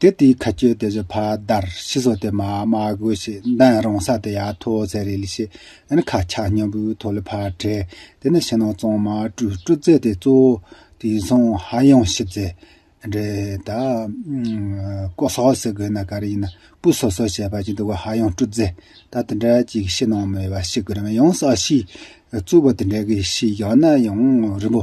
དེ་དེའི་ཁ་ཁྱོད་དེ་བཞིན་ཕ་དར་ཤི་སོ་དེ་མ་མ་དགོས་ཤི་འདན་རང་ས་དེ་ཡ་ཐོ་ཚད་རེད་ལི་ཤི་འདན་ཁ་ཆག་སྙམ་བུའི་ཐོ་ལི་ཕ་བྲེ་དེ་ནི་ཤི་ནང་གཙང་མ་དྲུ་དྲུ་རྩེ་དེ་གཙོ་བོ་དེ་སོང་ཧ་ཡང་ཤི་རྫེ་འདྲེ་ད་ཀོ་སོག་ཟི་དགོས་ན་ག་རེ་ཡིན་ན་པུ་སོ་སོ་བྱས་པ་ཅིག་འདུག་གོ་ཧ་ཡང་དྲུ་རྫེ་ད་དེ་འདྲ་ཅིག་ཤི་ནང་མོས་པ་ཤི་དགོས་རེད་མ་ཡང་ས་ཤི་རྫུ་བོ་དེ་འདྲ་གི་ཤི་ཡག་ན་ཡང་རིན་པོ་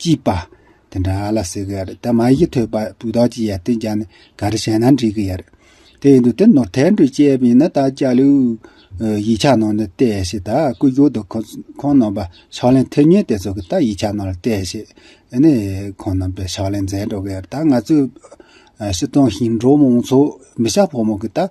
ཅེས་པ། དེ་འདྲ་ལ་ཟེར་གི་ཡར་ད་མ་ཡིག་ཐོས་པ་སྤུས་དག་ཅིག་ཡར་ཏན་ཅང་ག་རེ་བྱས་ན་འགྲིག་གི་ཡར། དེ་ཡིན་དུས་དེ་ནོར་ཐལ་འགྲོས་བཅད་པ་ཡིན་ན་ད་ཅག་ལོའི་ཡིག་ཆ་ནང་ནས་བལྟས་ཤིག་ད་སྐུ་སྒྱུར་དུ་ཁོང་རྣམ་པ་ཕྱག་ལེན་ཐེབས་ཉེན་དེ་ཚོ་གི་ད་ཡིག་ཆ་ནང་ལ་བལྟས་ཤིག་ནས་ཁོང་རྣམ་པས་ཕྱག་ལེན་མཛད་འགྲོ་གི་ཡར་ད་ང་ཚོའི་ཕྱི་གཏོང་ཞིང་འབྲོག་མང་ཚོགས་མི་ཤ་ཕོ་མོ་གི་ད་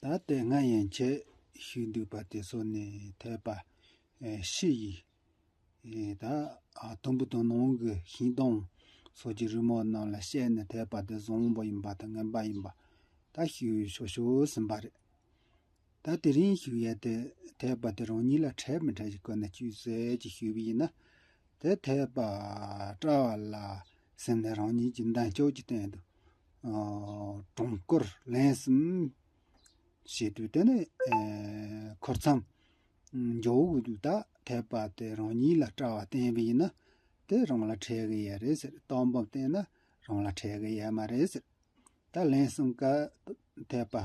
ད་ལྟའི་ང་ཡན་ཆད་ཞིག་འདུག་པ་དེ་སོ་ནས་ཐོས་པ། ཤི་ཡི། ད་དུམ་བུ་དང་ནང་གི་ཤིང་སྡོང་སོགས་ཀྱི་རི་མོ་རྣམས་ལ་བཤད་ནས་ཐོས་པ་དེ་བཟང་པོ་ཡིན་པ་དང་ངན་པ་ཡིན་པ་ད་ཤི་ཡོད་ཤོར་ཤོར་ཟིན་པ་རེད། ད་དེ་རིང་ཞིག་ཡལ་ཏེ་དེས་པ་དེ་རང་ཉིད་ལ་འཕྲལ་མི་འཕྲལ་གྱི་སྒོ་ནས་ཅུས་ཟེར་གྱིས་ཞུས་པ་ཡིན་ན། དེ་དེས་པ་སྤྲ་བ་ལ་སེམས་ནས་རང་ཉིད་ཀྱི་མདངས་སྐྱོགས་ཀྱི་སྟེང་དུ། གྲོང་སྐོར་ལན་གསུམ་བྱས་དུས་དེ་ནི་འཁོར་མཚམས་འཇོག་དགོས་དུས་ད་དེས་པ་དེ་རང་ཉིད་ལ་སྤྲ་བ་བསྟན་པ་ཡིན་ན། དེ་རང་ལ་འཕྲལ་གི་ཡལ་རེད་ཟེར་རྟགས་འབུམ་བསྟན་ན་རང་ལ་འཕྲལ་གི་ཡལ་མ་རེད་ཟེར། ད་ལན་གསུམ་ཀ་དེས་པ།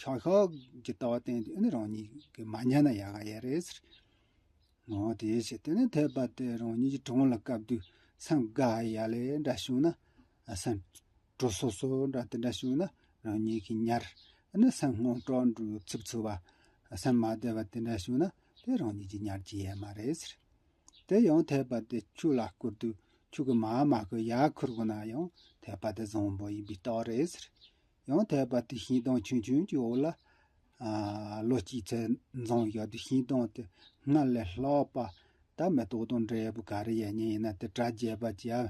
ཤག་ཤག་གི་ལྟ་བ་བསྟན་དེ་ནི་རང་ཉིད་ཀྱིས་མ་ཉན་ན་ཡག་ག་ཡ་རེད་ཟེར། ངོ་དེ་བྱས་དེ་ནི་འཐད་པ་དེ་རང་ཉིད་ཀྱི་དྲང་ལ་བཀབ་དུས་སམ་དགའ་ཡ་ལས་འདྲ་བྱུང་ན་སམ། དྲོ་སོ་སོ་འདྲ་དེ་འདྲ་བྱུང་ན་རང་ཉིད་ཀྱིས་ཉར་ནི་སམ་སྔོན་འགྲོ་འགྲོའི་ཚིག་ཚུལ་བ་སམ་མ་བདེ་བ་དེ་འདྲ་བྱུང་ན་དེ་རང་ཉིད་ཀྱིས་ཉར་གྱི་ཡ་མ་རེད་ཟེར། དེ་ཡང་འཐད་པ་དེ་ཁྱོད་ལ་བསྐུར་དུས་ཁྱོད་ཀྱིས་མ་མ་ཁོ་ཡ་ཁུར་དགོས་ན་ཡང་འཐད་པ་དེ་བཟང་པོ་ཡིན་པའི་རྟགས་རེད་ཟེར། ཡང་དལ་བར་དུ་ཤིང་སྡོང་ཆུང་ཆུང་གི་འོག་ལ། ལོ་གཅིག་ཚེས་མཛངས་བཞག་དུས་ཤིང་སྡོང་དེ་སྔར་ལས་ལྷག་པ། ད་མེ་ཏོག་དང་འབྲས་བུ་ག་རེ་ཡལ་ཉེན་ཡིན་ན་དེ་དྲ་རྒྱས་པ་གྱིས་ཨ།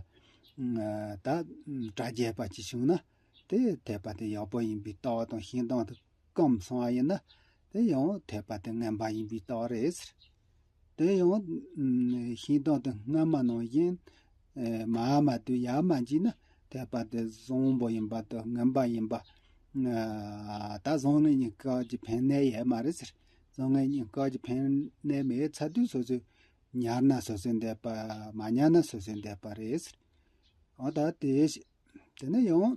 ད་དྲ་རྒྱས་པ་གྱིས་བྱུང་ན། དེ་དལ་བར་དུ་ཡག་པོ་ཡིན་པའི་ལྟ་བ་དང་ཤིང་སྡོང་དེ་སྐམ་སོང་བ་ཡིན་ན། དེ་ཡང་དལ་བར་དུ་ངན་པ་ཡིན་པའི་ལྟ་བ་རེད། དེ་ཡང། ཤིང་སྟོང་དུ་སྔ་མ་ནང་བཞིན། མ་ཧཱ་མ་དུ་ཡཱ་མ་གྱིས་ནི། ཐེག་པ་དེ་བཟང་པོ་ཡིན་པ་དང་ངན་པ་ཡིན་པ། ད་བཟང་ངན་གཉིས་ཀ་གྱི་ཕན་གནས་ཡོད་མ་རེད་ཟེར། བཟང་ངན་གཉིས་ཀ་གྱི་ཕན་གནས་མེད་ཚ་དུས་སོ་སོས་ཉར་ན་སོ་སོས་འདས་པ། མ་ཉར་ན་སོ་སོས་འདས་པ་རེད་ཟེར། ད་དེ། དེ་ནི་ཡང།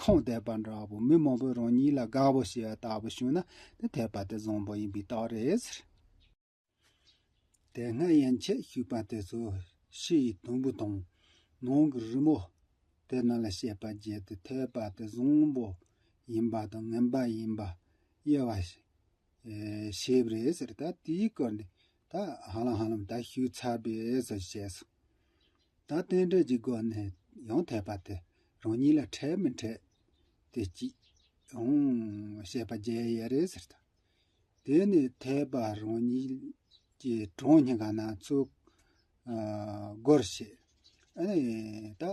ཁོངས་དད་པ་འདྲ་བོ་མི་མང་པོས་རང་ཉིད་ལ་དགའ་བོ་ཞེས་པ་ལྟ་བུ་བྱུང་ན་དེ་དད་པ་དེ་བཟང་པོ་ཡིན་པའི་རྟགས་རེད། དེ་སྔ་ཡན་ཆད་བཤིག་པ་དེ་ཚོ་ཕྱི་ཡི་དུམ་བུ་དང། ནང་གི་རི་མོ། དེ་རྣམས་ལ་ཤེས་པ་བརྒྱད་དེ་དད་པ་དེ་བཟང་པོ་ཡིན་པ་དང་ངན་པ་ཡིན་པ་དབྱེ་བ་ཞིབ་རེད་ཟེར་ད་དེའི་སྐོར་ནས་ད་ཧ་ལམ་ཧ་ལམ་ད་ཞུགས་ཚར་བས་ཟེར་བཤད་སོང། ད་རྟེན་འབྲེལ་གྱི་སྒོ་ནས་ཡང་ཐད་པ་དེ་རང་ཉིད་ལ་འཕྲད་མི་འཕྲད་དེ་ཅི་ཡང་བཤད་པ་བརྗེད་ཡས་རེད་ཟེར་ད། དེ་ནས་ཐད་པ་རང་ཉིད་ཀྱི་གྲོང་སྙིང་ག་ན་ཚུགས། སྒོར་བཤད། ཨ་ནི་ད།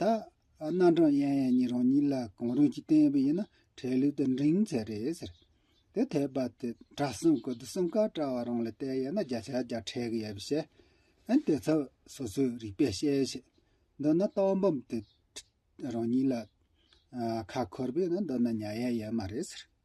ད། རྣམ་གྲངས་ཡན་ཡན་གཉིས་རང་ཉིད་ལ་གང་རུང་ཞིག་བསྟན་པ་ཡིན་ན་འཕྲལ་ལུས་དུ་འབྲིང་ཚད་རེད་ཟེར། དེ་ཐོས་པ་དེ་གྲྭ་གསུམ་གི་དུས་གསུམ་ཀ་གྲྭ་བ་རང་ལ་བལྟས་ཡོད་ན་བརྒྱ་ཆ་བརྒྱ་ཁྲལ་གི་ཡོད་པ་བཤད། ཨན་དེ་ཚོ་སོ་སོའི་རིག་པས་དཔྱད་བྱེད། འདི་ནི་རྟགས་འབུམ་དེ། རང་ཉིད་ལ། ཁ་འཁོར་པས་ན་འདི་ནི་ཉལ་ཡ་ཡོད་མ་རེད་ཟེར།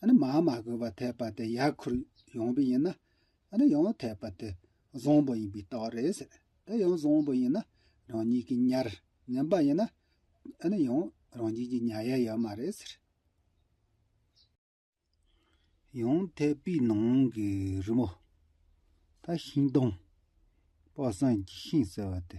ཨ་ནི་མ་མ་གོས་པར་ཐལ་པ་དེ་ཡར་ཁུར་ཡོང་བི་ཡིན་ན། ཨ་ནི་ཡང་ཐལ་པ་དེ་བཟང་པོ་ཡིན་པའི་རྟགས་རེད་ཟེར། དེ་ཡང་བཟང་པོ་ཡིན་ན་རང་ཉིད་ཀྱི་ཉར་ངན་པ་ཡིན་ན། ཨ་ནི་ཡང་རང་ཉིད་ཀྱི་ཉར་ཡ་ཡོད་མ་རེད་ཟེར། ཡང་ཐལ་པའི་ནང་གི་རི་མོ། ད་ཤིང་སྡོང། པགས་སངས་ཀྱི་ཤིང་ཟེར་བ་དེ།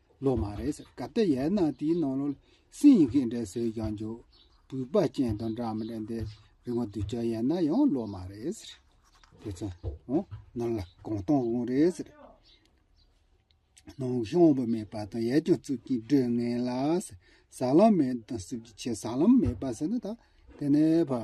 ལོ་མ་རེད་ཟེར་ག་དེ་ཡས་ན་དེའི་ནང་ལོ་སིང་ཡིན་གི་འདྲ་ཟེར་ཀྱང་འཇུག་སྤུས་པ་ཅན་དང་འདྲ་མི་འདྲ་འདི་རི་མོ་བསྡུ་བྱ་ཡས་ན་ཡང་ལོ་མ་རེད་ཟེར་དེ་ཚོ་ཨོ་ནང་ལ་གང་གཏོང་དགོངས་རེད་ཟེར། ནང་ཤང་བུ་མེད་པ་དང་ཡས་ཀྱང་རྩུབ་ཀྱིན་བྲོས་ངན་ལ་ཟེར་ཟ་ལམ་མེད་དང་རྩུབ་ཀྱི་ཆེད་ཟ་ལམ་མེད་པ་ཟེར་ན་ད་དེ་ནས་བ།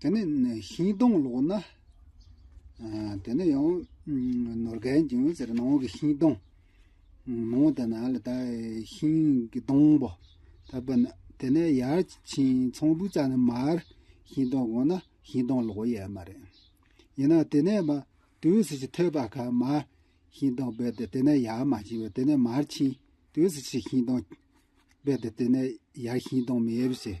དེ་ནས་ཤིང་སྡོང་ལོགས་ན། དེ་ནས་ཡང་ནོར་རྒན་ཀྱང་ཟེར་ནང་གི་ཤིང་སྡོང། ནང་དེ་ན་ལ་ད་ཤིང་གི་སྡོང་པོ། ད་པ་ན་དེ་ནས་ཡར་ཕྱིན་ཚོང་བུ་ཙག་ན་མར་ཤིང་སྡོང་གོང་ན་ཤིང་སྡོང་ལོགས་ཡས་མ་རེད། ཡིན་ན་དེ་ནས་པ་དུས་སུ་ཕྱིན་ཐོད་པ་ཁ་མ་ཤིང་སྡོང་བས་ཏེ་དེ་ནས་ཡར་མ་ཕྱིན་བས་དེ་ནས་མར་ཕྱིན་དུས་སུ་ཕྱིན་ཤིང་སྡོང་བས་ཏེ་དེ་ནས་ཡར་ཤིང་སྡོང་མེད་བྱས།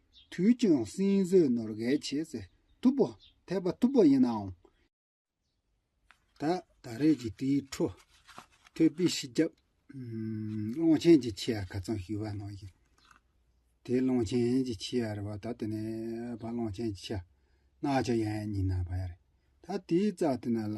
དུས་ཀྱང་སྲིན་བཟོས་ནོར་བརྒལ་བྱེད་ཚེ་ཐུབ་པོ་འཐད་པ་ཐུབ་པོ་ཡིན་ནའང། ད་ད་རེས་ཀྱི་དེའི་འཕྲོ་མཐོའི་དཔེ་ཞིབ་རྒྱབ་ཀློང་ཆེན་གྱི་ཆི་ཡར་ག་ཚང་ཞུས་པ་ནང་བཞིན་དེ་ཀློང་ཆེན་གྱི་ཆི་ཡར་བ་ད་དེ་ནས་བ་ཀློང་ཆེན་གྱི་ཆི་ཡར་གནག་ཆ་ཡན་ཉིན་ན་བ་ཡ་རེད་ད་དེའི་རྩ་དེ་ན་ལ་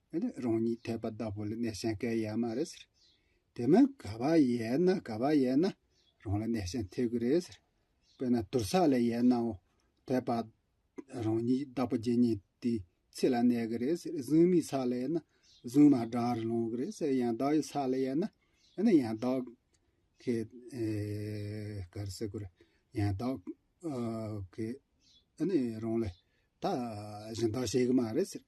ཨེ་ལས་རང་ཉིད་དད་པ་བདག་པོ་ལ་གནས་གཞན་སྐལ་ཡག་མ་རེད་ཟེར། དེ་མིན་ག་བ་ཡལ་ན་ག་བ་ཡལ་ན་རང་ལ་གནས་གཞན་ཐེབས་གི་རེད་ཟེར། དཔེར་ན་དུར་ས་ལ་ཡལ་ནའོ་དད་པ་རང་ཉིད་བདག་པོ་རྗེ་ཉིད་དེའི་ཚེ་ལ་གནས་གི་རེད་ཟེར་གཟུངས་མའི་ས་ལ་ཡལ་ན་གཟུངས་མ་བྲག་རི་ལོང་གི་རེད་ཟེར་ཡང་བདག་ཡོད་ས་ལ་ཡལ་ན་ཨེ་ན་ཡང་བདག་གི་གར་སེ་གོ་རེད་ཡང་བདག་གི་ཨེ་ནས་རང་ལ་ད་གཞན་དག་བྱེད་གི་མ་རེད་ཟེར།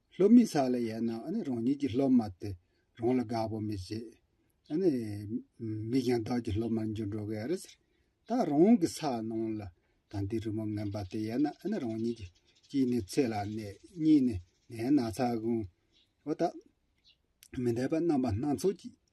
སློབ་མའི་ས་ལ་ཡལ་ན་རང་ཉིད་ཀྱི་སློབ་མ་དེ་རང་ལ་དགའ་པོ་མི་བྱེད། མིག་ཀྱང་བདག་གི་སློབ་མར་འགྱུར་འགྲོ་གི་རེད། ད་རང་གི་ས་ནང་ལ་དང་དེའི་རི་མོ་ངན་པ་དེ་ཡལ་ན་རང་ཉིད་ཀྱི་གཅིག་ནས་ཚེ་ལ་ནད་གཉིས་ནས་ནད་སྣ་ཚ་གང། འོ་ད། མི་འདས་པ་རྣམ་པ་སྣ་ཚོགས་ཀྱིས་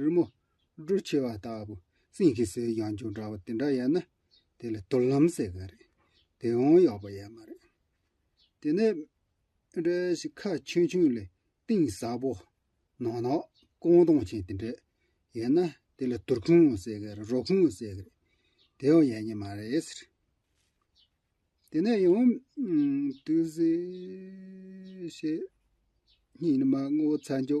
རི་མོ། འབྲུ་ཆེ་བ་ལྟ་བུ། སྲིན་གྱི་ཟས་ཡང་སྦྱོར་འདྲ་བ་དེ་འདྲ་ཡལ་ན། དེ་ལ་དུར་ལམ་ཟེར་གི་རེད། དེ་ཡང་ཡག་པོ་ཡལ་མ་རེད། དེ་ནས། འདྲེ་ཞིག་ཁ་ཆུང་ཆུང་ལས་གཏིང་ཟབ་པོ། ནག་ནག། ཀོང་སྟོང་ཅན་དེ་འདྲས་ཡལ་ན། དེ་ལ་དུར་ཁུང་ཟེར་གི་རེད་རོ་ཁུང་ཟེར་གི་རེད། དེ་ཡང་ཡལ་ཉེ་མ་རེད། དེ་ནས་ཡང། དུས་བཞི། ཉིན་མ་སྔོ་ཚལ་འཇོ།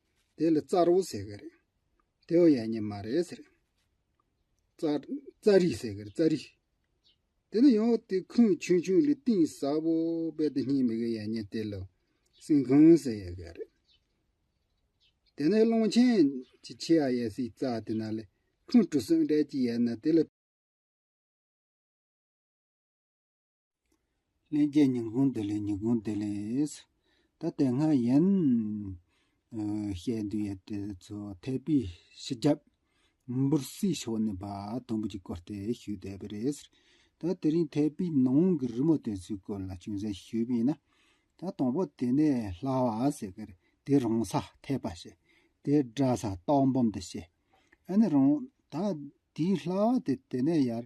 དེ་ལ་རྩར་བོ་ཟེར་གི་རེད། དེ་བོ་ཡ་ཉེ་མ་རེད་ཟེར། རྩ་རིག་ཟེར་གི་རེད་རྩ་རིག། དེ་ནི་ཡང་དེ་ཁུངས་ཆུང་ཆུང་ལས་གཏིང་ཟབ་བོ་བས་དེ་གཉིས་མི་དགོས་ཡ་ཉེ་དེ་ལ་སྲིན་གོང་ཟེར་ཡ་གི་རེད། དེ་ནི་ཀློང་ཆེན་གྱི་ཆེ་ཡ་ཡ་སའི་རྩ་དེ་ན་ལས་ཁུངས་གྲུ་གསུམ་སྦྲེལ་གྱི་ཡ་ན་དེ་ལ། ལན་བརྒྱད་ཉིན་གུང་བདེ་ལེགས་ཉིན་གུང་བདེ་ལེགས། ད་དེ་སྔ་ཡན་ལགས་བཤད་འདུག་ཡས་བྲེལ་ཚོ་ཐེ་པི་ཕྱི་རྒྱབ། འབུར་སིའི་ཕྱོགས་ནས་བ་དུམ་བུ་གཅིག་བསྐོར་ཏེ་ཞུས་བསྡད་པ་རེད། ད་དེ་རིང་ཐེ་པི་ནང་གི་རི་མོ་དེ་ཚོའི་སྐོར་ལ་ཅུང་ཟད་ཞུས་པས་ན། ད་དང་པོ་དེ་ནས་ལྷ་བ་ཟེར་གར་དེ་རང་ས་ཐེ་པ་ཞེས་དེ་འདྲ་ས་སྟག་འབུམ་དུ་བཤད། ཨ་ནི་རང་ད་དེའི་ལྷ་བ་དེ་དེ་ནས་ཡར་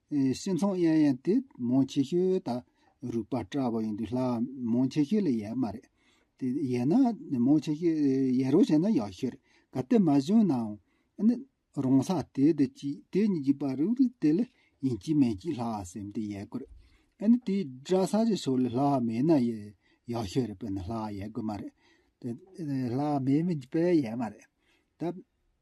སེམས་ཚོང་གཡར་ཡང་དེ་མོང་ཆེ་ཤོས་དང་རུས་པ་སྤྲ་བ་ཡོང་དུས་ལྷ་མོང་ཆེ་ཤོས་ལ་ཡལ་མ་རེད། དེ་ཡལ་ན་མོང་ཆེ་ཤོས་ཡལ་རོགས་བྱས་ན་ཡག་ཤོས་རེད་ག་དེ་མ་བྱུང་ནའང་ནི་རང་ས་དེ་དེ་གཅིག་དེ་གཉིས་གཅིག་པ་རུ་རུ་དེ་ལ་ཡིན་གཅིག་མིན་གཅིག་ལྷ་སེམས་དེ་ཡལ་དགོས་རེད། ནི་དེའི་སྦྲ་ས་ཀྱི་ཕྱོགས་ལ་ལྷ་མེད་ན་ཡལ་ཡག་ཤོས་རེད་དཔེར་ན་ལྷ་ཡལ་དགོས་མ་རེད། ལྷ་མེད་པས་ཡལ་མ་རེད། ད།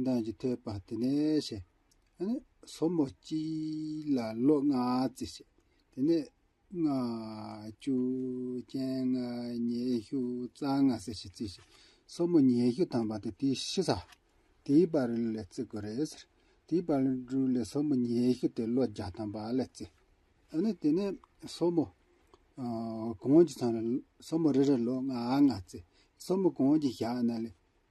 མདངས་ཀྱི་ཐོད་པ་དེ་ནས་བྱས། སོར་མོ་གཅིག་ལ་ལོ་ལྔ་བརྩིས་བྱས། དེ་ནས་ལྔ། བཅུ། སྤྱན་ལྔ། ཉེ་གཞུ། རྩ་ལྔ་བསྲེ་བཞི་བརྩིས་བྱས། སོར་མོ་ཉེ་གཞུ་དང་བ་དེ་དེའི་ཕྱི་ས། དེའི་བར་ལས་བརྩི་དགོས་རེད་ཟེར། དེའི་བར་ལས་དྲུག་ལས་སོར་མོ་ཉེ་གཞུ་དེ་ལོ་བརྒྱ་དང་བ་ལས་བརྩི། དེ་ནས་སོར་མོ་གོང་གི་ཚང་ལ་སོར་མོ་རེ་རེར་ལོ་ལྔ་ལྔ་བརྩི། སོར་མོ་གོང་གི་ཞག་ན་ལས།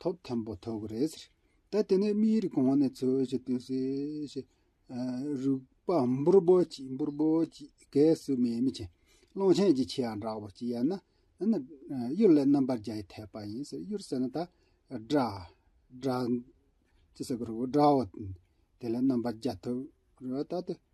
ཐོབ་མཐོན་པོ་ཐོབ་གི་རེད་ཟེར། ད་དེ་ནས་མིའི་རིགས་གོང་ནས་འཚོལ་བཞིན་དུ་སེ་ཞེས། རུས་པ་འབུར་འབུར་གྱིས་འབུར་འབུར་གྱིས་གས་སུ་མེད་མི་ཆེན། གླང་ཆེན་གྱི་ཆེ་ཡང་འདྲ་བོ་གཅིག་ཡལ་ན་ཡང་ན། གཡུར་ལས་རྣམ་པར་རྒྱལ་ཡི་ཐེག་པ་ཡིན་ཟེར་གཡུར་ཟེར་ན་ད། སྒྲ། སྒྲ། ཅི་ཟེར་གི་རུག་སྒྲའོ། དེ་ལས་རྣམ་པར་རྒྱལ་ཐུབ། རུ་བ་ད་དེ།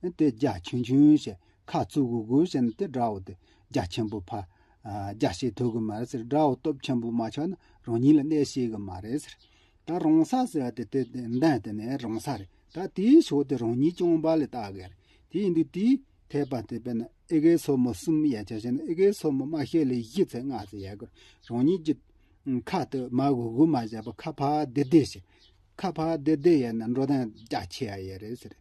སྟེ་རྒྱ་ཆུང་ཆུང་ཞེས་ཁ་ཚུག་གུ་གུ་བྱེད་ན་དེ་འདྲ་བོ་སྟེ་རྒྱ་ཆེན་པོ་ཕ། རྒྱ་ཞེས་ཐོས་གི་མ་རེད་ཟེར་འདྲ་བོ་སྟོབས་ཆེན་པོ་མ་ཆགས་ན་རང་ཉིད་ལ་གནས་ཤེས་གི་མ་རེད་ཟེར། ད་རང་ས་ཟེར་བ་དེ་དེ་འདྲ་དེ་ནས་རང་ས་རེད་ད་དེའི་ཕྱོགས་དེ་རང་ཉིད་སྐྱོང་པ་ལས་ལྟ་དགོས་རེད་དེ་ཡིན་དུས་དེའི་ཐེག་པ་དེ་པས་ན་ཨེ་ཀའི་སོར་མོ་གསུམ་ཡ་ཆ་བྱས་ན་ཨེ་ཀའི་སོར་མོ་དམའ་ཤོས་ལས་བཞི་ཚེ་ལྔ་ཚེ་ཡ་དགོས་རང་ཉིད་ཀྱི། ཁ་དེ་མ་གུ་གུ་མ་བྱས་པ་ཁ་ཕག་བདེ་བདེ་བྱེད། ཁ་ཕག་བདེ་བདེ་ཡས་ན་འགྲོ་སྟངས་རྒྱ་ཆེ་ཡ་ཡས་རེད་ཟེར།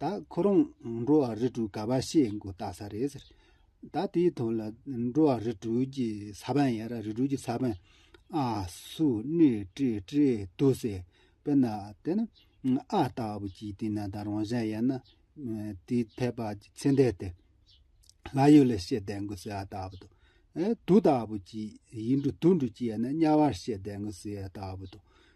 ད་ཁོ་རང་འགྲོ་བ་རི་ཁྲོད་ག་པར་ཤེས་མགོ་བཏགས་ས་རེད་ཟེར། ད་དེའི་དོན་ལ་འགྲོ་བ་རི་ཁྲོད་ཀྱི་ས་པན་ཡ་ར་རི་ཁྲོད་ཀྱི་ས་པན་ཨ་སུ་ནེ་ཀྲེ་ཀྲེ་དུ་ཟེར། དཔེར་ན་དེ་ནི་ཨ་ལྟ་བུ་ཅིག་དེ་ན་ད་རང་གཞན་ཡིན་ན་དེའི་ཐད་པ་ཀྱི་ཚེ་འདས་དེ་ལ་ཡོད་ལ་ཤེས་བསྡད་མགོ་ཟེར་ཨ་ལྟ་བུ་དང། དུ་ལྟ་བུ་ཅིག་ཡིན་འགྲོ་དུ་འགྲོ་ཅིག་ཡིན་ན་དམྱལ་བར་ཤེས་བསྡད་མགོ་ཟེར་ཨ་ལྟ་བུ་དང།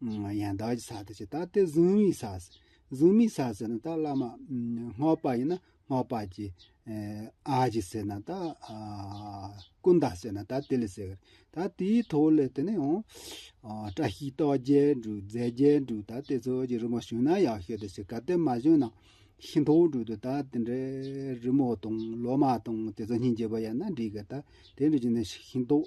ཡང་དག་གི་ས་དེ་བྱས་ད་དེ་གཟུང་མི་ས་གཟུང་མི་ས་ཟེར་ན་ད་བླ་མ་སྔགས་པ་ཡིན་ན་སྔགས་པ་ཀྱི་ཨ་ཅེ་ཟེར་ན་ད་ཀུན་བརྟགས་ཟེར་ན་ད་དེ་ལས་ཟེར་ད་དེའི་ཐོག་ལས་དེ་ནས་ཨོ། བཀྲ་ཤིས་རྟོགས་རྒྱལ་འབྲུག་རྫས་རྒྱལ་འབྲུག་ད་དེ་ཚོ་ཀྱི་རི་མོ་བྱུང་ན་ཡག་ཤོས་དེ་བྱས་ག་དེ་མ་བྱུང་ན་ཤིང་ཐོག་འབྲུག་ཏུ་ད་དེ་འདྲའི་རི་མོ་དང་ལོ་མ་དང་དེ་ཚོ་སྙིང་རྗེ་བོ་ཡིན་ན་འགྲིག་གི་ད་དེ་འདྲ་བྱུང་ན་ཤིང་ཐོག།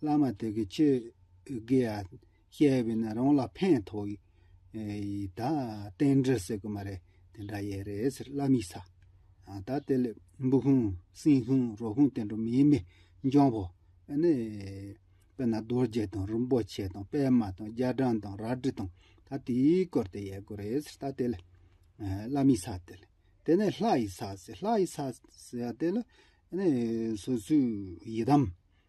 བླ་མ་དེ་གི་ཆོས་དགེ་ཡ་ཤེས་པའི་ན་རང་ལ་ཕན་ཐོག་ཡི་ད་རྟེན་འབྲེལ་ཟེར་གི་མ་རེད་དེ་འདྲ་ཡེ་རེད་ཟེར་བླ་མིས་ས་ད་དེ་ལས་འབུ་ཁུང་སྲིན་ཁུང་རོ་ཁུང་དེ་འདྲ་མིའི་མི་འཇོང་བོ་ཨ་ནི་དཔེ་ན་རྡོ་རྗེ་དང་རིན་པོ་ཆེ་དང་པད་མ་དང་རྒྱ་གྲམ་དང་རལ་གྲི་དང་ད་དེའི་སྐོར་དེ་ཡེ་གི་རེད་ཟེར་ད་དེ་ལས་བླ་མིས་ས་དེ་ལས་དེ་ནས་ལྷ་ཡིས་ས་ཟེར་ལྷ་ཡིས་ས་ཟེར་ད་དེ་ལས་ཨ་ནི་སོ་སོའི་ཡི་དམ།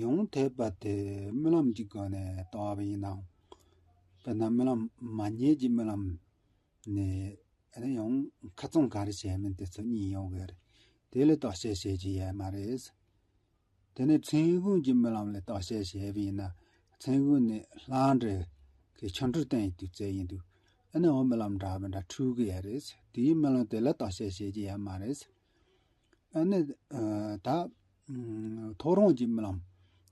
ཡོངས་དེས་པ་དེ་རྨི་ལམ་གྱི་སྒོ་ནས་བཏང་བ་ཡིན་ནམ། དཔེར་ན་རྨི་ལམ་མ་རྙེད་ཀྱི་རྨི་ལམ་ནི་ཨེ་ཡོང་ཁ་བཙོང་ག་རེ་བྱས་མིན་དེ་ཚོ་གཉིས་ཡོང་གི་རེད། དེ་ལ་རྟོག་དཔྱད་བྱེད་ཀྱི་ཡས་མ་རེད། དེ་ནས་མཚན་གུང་གི་རྨི་ལམ་ལ་རྟོག་དཔྱད་བྱས་པ་ཡིན་ན་མཚན་གུང་ནི་ལྷང་འདྲེ་གི་ཆོ་འཕྲུལ་བསྟན་ཡོད་དུས་ཚོད་ཡིན་འདུག་ཨེ་ན་འོ་རྨི་ལམ་འདྲ་མི་འདྲ་འཁྲུལ་གི་ཡས་རེད། དེའི་རྨི་ལམ་དེ་ལ་རྟོག་དཔྱད་བྱེད་ཀྱི་ཡས་མ་རེད། ཨ་ནི། ད། ཐོ་རངས་ཀྱི་སྨོན་ལམ།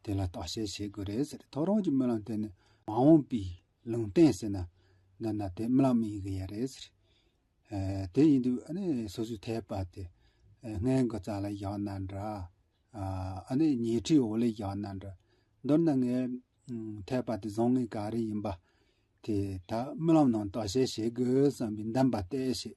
དེ་ལ་བརྟག་དཔྱད་བྱེད་དགོས་རེད་ཟེར། ཐོ་རངས་ཀྱི་སྨོན་ལམ་དེ་ནི། མ་འོངས་པའི། ལུང་བསྟན་ཟེར་ན། འདི་ན་དེ་སྨོན་ལམ་ཡིན་གི་ཡ་རེད་ཟེར། དེ་ཡིན་དུས་ཨ་ནི་སོ་སོའི་ཐལ་བ་དེ། སྔས་མགོ་རྩ་ལ་བཞག་ན་འདྲ། ཨ་ནི་ཉལ་ཁྲིའི་འོག་ལས་བཞག་ན་འདྲ། མདོར་ན་ངའི། ཐལ་བ་དེ་བཟང་ངན་ག་རེ་ཡིན་པ། དེ་ད་སྨོན་ལམ་ནང་བརྟག་དཔྱད་བྱེད་དགོས་བསམ་པའི་འདམས་པ་གཏད་ཞེས།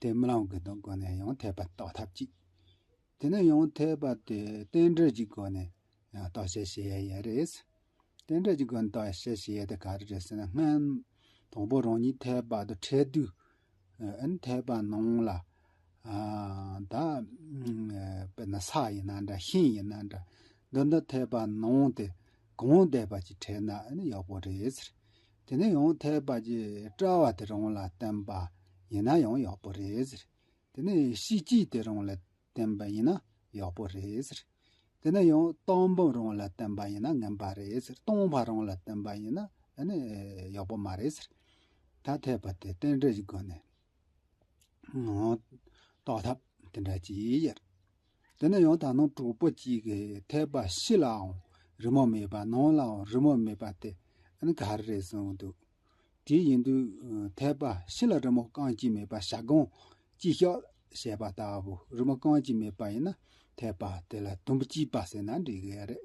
དེ་མི་ལང་གི་དོན་སྒོ་ནས་ཡང་འཐད་པར་རྟོགས་ཐབས་ཅིག་དེ་ནི་ཡང་འཐད་པ་དེ་རྟེན་འབྲེལ་གྱི་སྒོ་ནས་རྟོགས་བཤད་བྱེད་ཡ་ཡས་རེད། རྟེན་འབྲེལ་གྱི་སྒོ་ནས་རྟོགས་བཤད་བྱེད་ཡ་དེ་ག་རེ་རེད་ཟེར་ན་སྔོན་དང་པོ་རང་ཉིད་འཐད་པ་དང་འཕྲད་དུས་ཨིན་འཐད་པ་ནང་ལ་ད་དཔེར་ན་ས་ཡིན་ན་འདྲ་ཤིང་ཡིན་ན་འདྲ་འདི་འདི་འཐད་པ་ནང་དེ་གང་འཐད་པ་ཅིག་འཕྲད་ན་ཨིན་ཡག་པོ་རེད། དེ་ནས་ཡང་ཐལ་བ་རྗེས་བཀྲལ་བ་དེ་རང་ལ་བརྟེན་པ་ཡིན་ན་ཡང་ཡག་པོ་རེད་ཟེར། དེ་ནས་གཤིས་སྤྱི་དེ་རང་ལ་བརྟེན་པ་ཡིན་ན་ཡག་པོ་རེད་ཟེར། དེ་ནས་ཡང་སྟོང་འབུམ་རང་ལ་བརྟེན་པ་ཡིན་ན་ངན་པ་རེད་ཟེར་སྟོང་བྷ་རང་ལ་བརྟེན་པ་ཡིན་ན་ཡག་པོ་མ་རེད་ཟེར། ད་ཐལ་བ་དེ་རྟེན་འབྲེལ་གྱི་སྒོ་ནས་རྟོགས་ཐབས་དེ་འདྲ་ཅི་ཡོད། དེ་ནས་ཡང་དག་སྣང་དྲུག་པོ་གཅིག་གིས་ཐེག་པ་བཞི་ལའང་རི་མོ་མེད་པ་སྣང་ལའང་རི་མོ་མེད་པ་དེ་ནི་ག་རེ་རེད་གསུངས་འདུག་དེ་ཡིན་དུས་ཐེག་པ་བཞི་ལ་རི་མོ་རྐང་གཅིག་མེད་པ་ཞག་སྒང་གཅིག་ཤོག་ཞེས་པ་ལྟ་བུ་རི་མོ་རྐང་གཅིག་མེད་པ་ཡིན་ན་ཐེག་པ་དེ་ལ་དུམ་བུ་གཅིག་པ་ཟེར་ན་འགྲིག་གི་རེད།